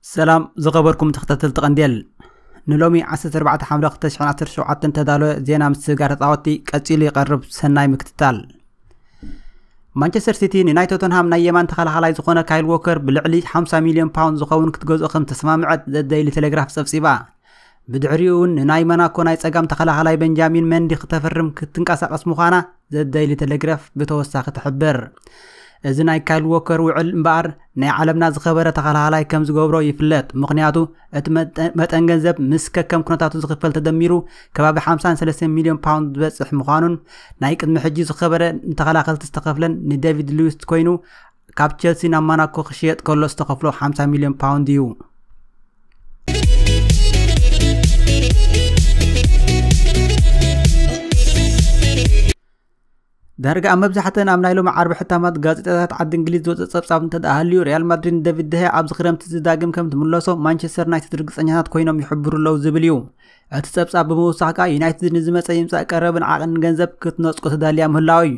ሰላም ዝኸበርኩም ተኸታተልቲ ቀንዴል ንሎሚ 14 ሓምለ 2017 ተዳለወ ዜና ምስግጋር ተፃወቲ ቀፂሉ ይቐርብ ሰናይ ምክትታል ማንቸስተር ሲቲ ንናይ ቶተንሃም ናይ የማን ተኸላኻላይ ዝኾነ ካይል ዎከር ብልዕሊ 50 ሚልዮን ፓውንድ ዝኸውን ክትገዝኦ ከም ተሰማምዐት ዘደይሊ ቴሌግራፍ ፀብፂባ ብድሕሪኡውን ንናይ መናኮ ናይ ጸጋም ተኸላኻላይ በንጃሚን መንዲ ክተፍርም ክትንቀሳቐስ ምዃና ዘደይሊ ተለግረፍ ብተወሳኺ ትሕብር እዚ ናይ ካይል ዎከር ውዕል እምበኣር ናይ ዓለምና ዝኸበረ ተኸላኻላይ ከም ዝገብሮ ይፍለጥ ምክንያቱ እቲ መጠን ገንዘብ ምስ ከከም ኩነታቱ ዝኽፈል ተደሚሩ ከባቢ 53 ሚልዮን ፓውንድ ዝበፅሕ ምዃኑን ናይ ቅድሚ ሕጂ ዝኸበረ ንተኸላኸልቲ ዝተኸፍለን ንደቪድ ሉዊስ ኮይኑ ካብ ቸልሲ ናብ ማናኮ ክሽየጥ ከሎ ዝተኸፍሎ 50 ሚልዮን ፓውንድ እዩ ዳርጋ ኣብ መብዛሕተን ኣብ ናይ ሎሚ ዓርቢ ሕታማት ጋዜጣታት ዓዲ እንግሊዝ ዝወፅእ ጸብጻብ እንተ ሃልዩ ሪያል ማድሪድ ንደቪድ ደሃ ኣብዚ ክረምቲ ዝዳግም ከም ትምለሶ ማንቸስተር ዩናይትድ ርግፀኛታት ኮይኖም ይሕብሩ ኣለዉ ዝብል እዩ እቲ ጸብጻብ ብምውሳኽ ከኣ ዩናይትድ ንዝመፀ ይምፃእ ቀረብን ዓቕንን ገንዘብ ክትነፅቆ ተዳልያ ምህላው እዩ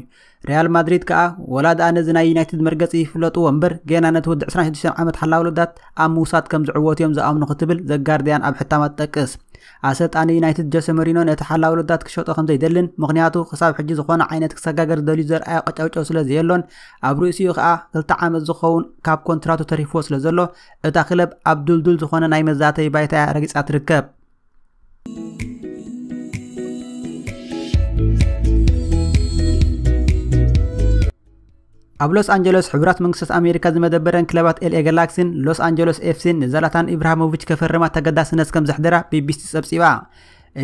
ሪያል ማድሪድ ከኣ ወላ ደኣ ነዚ ናይ ዩናይትድ መርገጺ ይፍለጥዎ እምበር ገና ነቲ ወዲ 26 ዓመት ሓላዊ ውልዳት ኣብ ምውሳድ ከም ዝዕወቱ እዮም ዝኣምኑ ክትብል ዘጋርድያን ኣብ ሕታማ ትጠቅስ ኣሰልጣኒ ዩናይትድ ጀሰ መሪኖ ነቲ ሓላዊ ውልዳት ክሸጦ ከም ዘይደልን ምክንያቱ ክሳብ ሕጂ ዝኾነ ዓይነት ክሰጋገር ዝደልዩ ዘርኣዮ ቀጨውጨው ስለ ዘየሎን ኣብ ርእሲኡ ከኣ ክልተ ዓመት ዝኸውን ካብ ኮንትራቱ ተሪፍዎ ስለ ዘሎ እታ ክለብ ኣብ ዱልዱል ዝኾነ ናይ መዛተይ ባይታ እያ ረጊጻ ትርከብ ኣብ ሎስ ኣንጀለስ ሕቡራት መንግስታት ኣሜሪካ ዝመደበረን ክለባት ኤልኤ ጋላክሲን ሎስ ኣንጀለስ ኤፍሲን ንዘላታን ኢብራሃሞቪች ከፈርማ ተገዳስነት ከም ዘሕደራ ቢቢሲ ጸብጺባ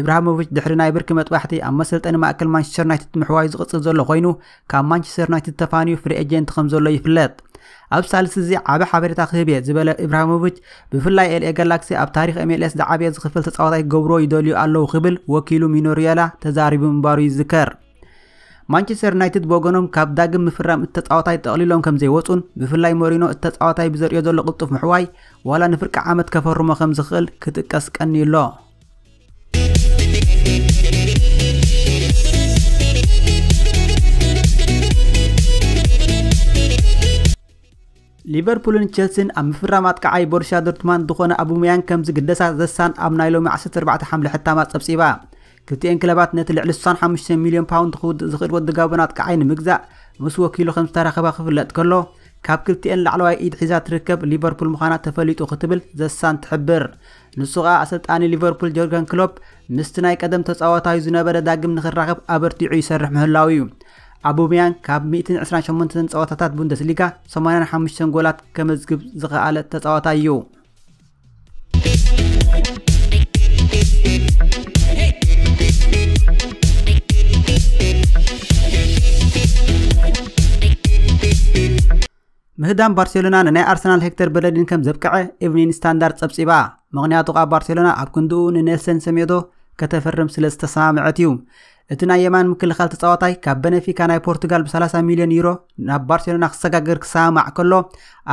ኢብራሃሞቪች ድሕሪ ናይ ብርኪ መጥባሕቲ ኣብ መሰልጠኒ ማእከል ማንቸስተር ዩናይትድ ምሕዋዩ ዝቕጽል ዘሎ ኮይኑ ካብ ማንቸስተር ዩናይትድ ተፋንዩ ፍሪ ኤጀንት ከም ዘሎ ይፍለጥ። ኣብ ሳልስቲ እዚ ዓቢ ሓበሬታ ክህብ እየ ዝበለ ኢብራሂሞቪች፣ ብፍላይ ኤልኤ ጋላክሲ ኣብ ታሪኽ MLS ዝዓበየ ዝኽፈል ተጻዋታይ ክገብርዎ ይደልዩ ኣለዉ ክብል ወኪሉ ሚኖ ሪዮላ ተዛሪቡ ምንባሩ ይዝከር። ማንቸስተር ዩናይትድ ብወገኖም ካብ ዳግም ምፍራም እቲ ተጻዋታይ ጠቕሊሎም ከም ዘይወጹን ብፍላይ ሞሪኖ እቲ ተጻዋታይ ብዘርእዮ ዘሎ ቅልጡፍ ምሕዋይ ዋላ ንፍርቂ ዓመት ከፈርሞ ከም ዝኽእል ክጥቀስ ቀንዩ ኣሎ። ሊቨርፑልን ቸልሲን ኣብ ምፍራም ኣጥቃዓይ ቦርሻ ዶርትማንድ ዝኾነ ኣቡመያንግ ከም ዝግደሳ ዘሳን ኣብ ናይ ሎሚ 14 ሓምለ ሕታማ ጸብጺባ ክልቲኤን ክለባት ነቲ ልዕሊ 65 ሚልዮን ፓውንድ ክውድእ ዝኽእል ወዲ ጋቦን ኣጥቃዓይ ንምግዛእ ምስ ወኪሉ ከም ዝተራኸባ ክፍለጥ ከሎ ካብ ክልቲኤን ላዕለዋይ ኢድ ሒዛ ትርከብ ሊቨርፑል ምዃና ተፈሊጡ ክትብል ዘሳን ትሕብር ንሱ ከኣ ኣሰልጣኒ ሊቨርፑል ጆርገን ክሎፕ ምስቲ ናይ ቀደም ተጻዋታዩ ዝነበረ ዳግም ንክራኸብ ኣበርቲዑ ይሰርሕ ምህላዉ እዩ። ኣቡምያንግ ካብ 128 ጸወታታት ቡንደስሊጋ 85 ጎላት ከመዝግብ ዝኸኣለ ተጻዋታይ እዩ። ምህዳም ባርሴሎና ንናይ ኣርሰናል ሄክተር በለዲን ከም ዘብቅዐ ኢቭኒን ስታንዳርድ ጸብጺባ ምክንያቱ ካብ ባርሴሎና ኣብ ክንድኡ ንኔልሰን ሰሜዶ ከተፈርም ስለ ዝተሰማምዐት እዩ እቲ ናይ የማን ምክልኻል ተጻዋታይ ካብ በነፊካ ናይ ፖርቱጋል ብ30 ሚልዮን ዩሮ ናብ ባርሴሎና ክሰጋገር ክሰማማዕ ከሎ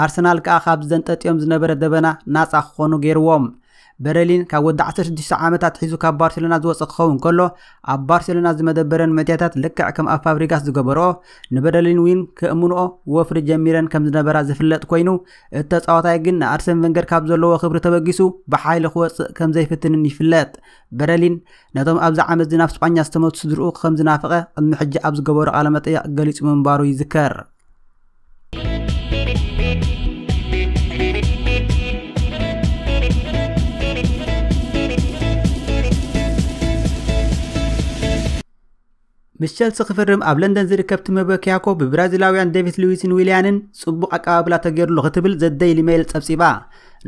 ኣርሰናል ከኣ ካብ ዘንጠጥዮም ዝነበረ ደበና ናጻ ክኾኑ ገይርዎም በረሊን ካብ ወዲ 16 ዓመት ኣትሒዙ ካብ ባርሴሎና ዝወፀ ክኸውን ከሎ ኣብ ባርሴሎና ዝመደበረን መድያታት ልክዕ ከም ኣብ ፋብሪጋስ ዝገበረኦ ንበረሊን ዊን ከእምንኦ ወፍሪ ጀሚረን ከም ዝነበራ ዝፍለጥ ኮይኑ እቲ ተፃዋታይ ግን ንኣርሰን ቨንገር ካብ ዘለዎ ክብሪ ተበጊሱ ብሓይሊ ክወፅእ ከም ዘይፍትንን ይፍለጥ በረሊን ነቶም ኣብዚ ዓመት እዚ ናብ ስጳኛ ዝተመቱ ስድርኡ ከም ዝናፍቐ ቅድሚ ሕጂ ኣብ ዝገበሮ ቃለመጠየቕ ገሊጹ ምንባሩ ይዝከር ምስ ቸልሲ ክፍርም ኣብ ለንደን ዝርከብ ቲመ በኪያኮ ብብራዚላውያን ዴቪድ ሉዊስን ዊልያንን ጽቡቕ ኣቀባብላ ተገይሩሉ ክትብል ዘደይሊ ሜይል ጸብጺባ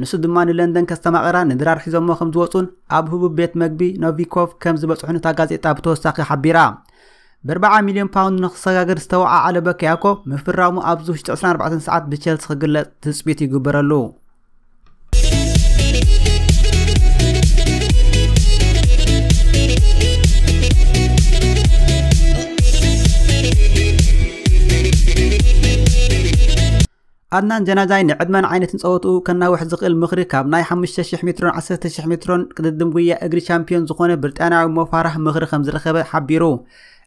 ንሱ ድማ ንለንደን ከስተማቕራ ንድራር ሒዞሞ ከም ዝወፁን ኣብ ህቡብ ቤት መግቢ ኖቪኮቭ ከም ዝበፅሑን እታ ጋዜጣ ብተወሳኺ ሓቢራ ብርብዓ ሚልዮን ፓውንድ ንክሰጋገር ዝተወዓዓለ በኪያኮ ምፍራሙ ኣብዚ ውሽጢ 24 ሰዓት ብቸልሲ ክግለጽ ትጽቢት ይግበረሉ ኣድናን ጀናጃይ ንዕድመን ዓይነትን ጸወትኡ ከናውሕ ዝኽእል ምኽሪ ካብ ናይ 5,000 ሜትሮን 10,000 ሜትሮን ቅድድም ጉያ እግሪ ቻምፒዮን ዝኾነ ብሪጣንያዊ ሞፋራህ ምኽሪ ከም ዝረኸበ ሓቢሩ።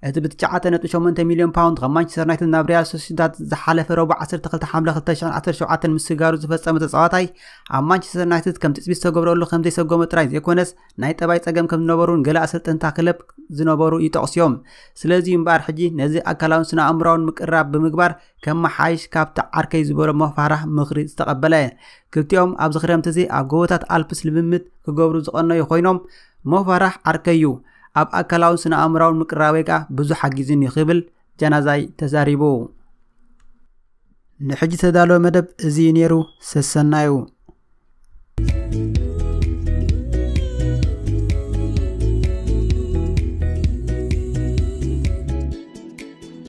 እቲ ብ 9.8 ሚልዮን ፓውንድ ካብ ማንቸስተር ዩናይትድ ናብ ሪያል ሶሲዳድ ዝሓለፈ ረቡዕ 12 ሓምለ 2017 ምስጋሩ ዝፈጸመ ተጻዋታይ ኣብ ማንቸስተር ዩናይትድ ከም ትጽቢት ዝተገብረሉ ከም ዘይሰጎመ ጥራይ ዘይኮነስ ናይ ጠባይ ጸገም ከም ዝነበሩን ገለ ኣሰልጠንታ ክለብ ዝነበሩ ይጠቕሱ እዮም። ስለዚ እምበኣር ሕጂ ነዚ ኣካላውን ስነ ኣእምሮኣውን ምቅርራብ ብምግባር ከመሓይሽ ካብቲ ዓርከይ ዝበሎ ሞፋራህ ምኽሪ ዝተቐበለ። ክልቲኦም ኣብዚ ክረምቲ እዚ ኣብ ጎቦታት ኣልፕስ ልምምድ ክገብሩ ዝቐነዩ ኮይኖም፣ ሞፋራህ ዓርከይ'ዩ፣ ኣብ ኣካላውን ስነ-ኣእምሮኣውን ምቅርራበይ ከኣ ብዙሕ ሓጊዙኒ ክብል ጃናዛይ ተዛሪቡ። ንሕጂ ዝተዳለወ መደብ እዚ'ዩ ነይሩ፣ ሰሰናዩ።